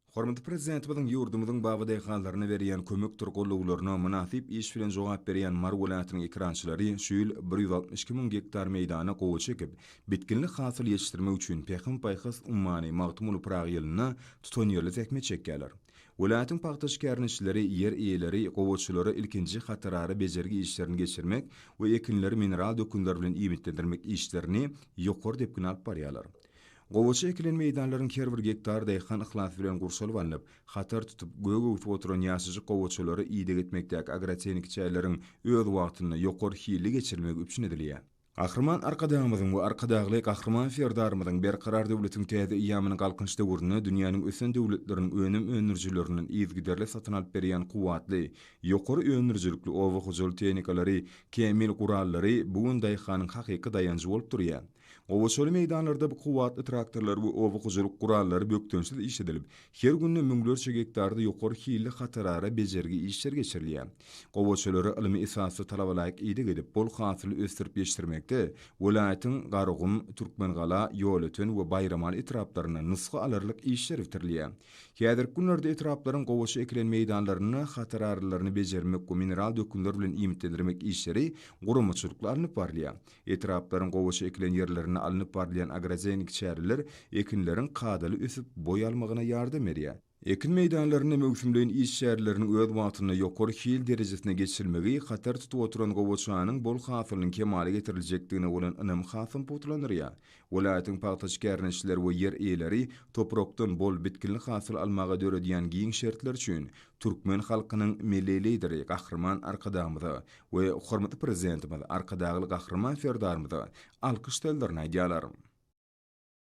Hormatly Prezidentimiziň ýurdumyzyň bagy-desgalaryna berýän kömekdir gollawlaryna mynasyp iş bilen jogap berýän Mary welaýatynyň ekerançylary şu ýyl bir ýüz altmyş iki müň gektar meýdana gowaça ekip, bitginli hasyl ýetişdirmek üçin Pähim-paýhas ummany Magtymguly Pyragy ýylynda tutanýerli zähmet çekýärler. Welaýatyň pagta şikäriniçileri, ýer eýeleri gowaçalara ilkinji hatarara bejergi işlerini geçirmek we ekinleri mineral dökünler bilen iýmitlendirmek işlerini ýokary depgin alyp barýarlar. Gowaça ekilen meýdanlaryň her bir gektary daýhan yhlasy bilen gurşalyp alnyp, hatar tutup, gök öwsüp oturan ýaşajyk gowaçalary ideg etmekdäki agrotehniki çäreleriň öz wagtynda, ýokary hilli geçirilmegi üpjün edilýär. Gahryman Arkadagymyzyň we Arkadagly Gahryman Serdarymyzyň Berkarar döwletiň täze eýýamynyň Galkynyş döwründe dünýäniň ösen döwletleriniň önüm öndürijilerinden yzygiderli satyn alyp berýän kuwwatly, ýokary öndürijilikli oba hojalyk tehnikalary, kämil gurallary bu gün daýhanyň hakyky daýanjy bolup durýar. Gowaçaly meýdanlarda bu kuwwatly traktorlar we oba hojalyk gurallary bökdençsiz işledilip, her günde müňlerçe gektarda ýokary hilli hatarara bejergi işleri geçirilýär. Gowaçalara ylmy esasda talabalaýyk ideg edip, bol hasyly ösdürip ýetişdirmekde welaýatyň Garagum, Türkmengala, Ýolöten we Baýramaly etraplarynda nusga alarlyk işler bitirilýär. Häzirki günlerde etraplaryň gowaça ekilen meýdanlarynda hatararalaryny bejermek we mineral dökünler bilen iýmitlendirmek işleri guramaçylykly alnyp barylýar. Etraplaryň gowaça ekilen ýerlerinde alnyp barylýan agrotehniki çäreler ekinleriň kadaly ösüp, boý almagyna ýardam berýär. Ekin meýdanlarynda möwsümleýin iş çäreleriniň öz wagtynda ýokary hil derejesinde geçirilmegi hatar tutup oturan gowaçanyň bol hasylynyň kemala getiriljekdigine bolan ynamy hasam pugtalandyrýar. Welaýatyň pagtaçy kärneşileri we ýer eýeleri toprakdan bol, bitginli hasyl almaga döredýän giň şertler üçin türkmen halkynyň Milli Lideri Gahryman Arkadagymyza, we hormatly Prezidentimiz Arkadagly Gahryman Serdarymyza alkyş sözlerini aýdýarlar.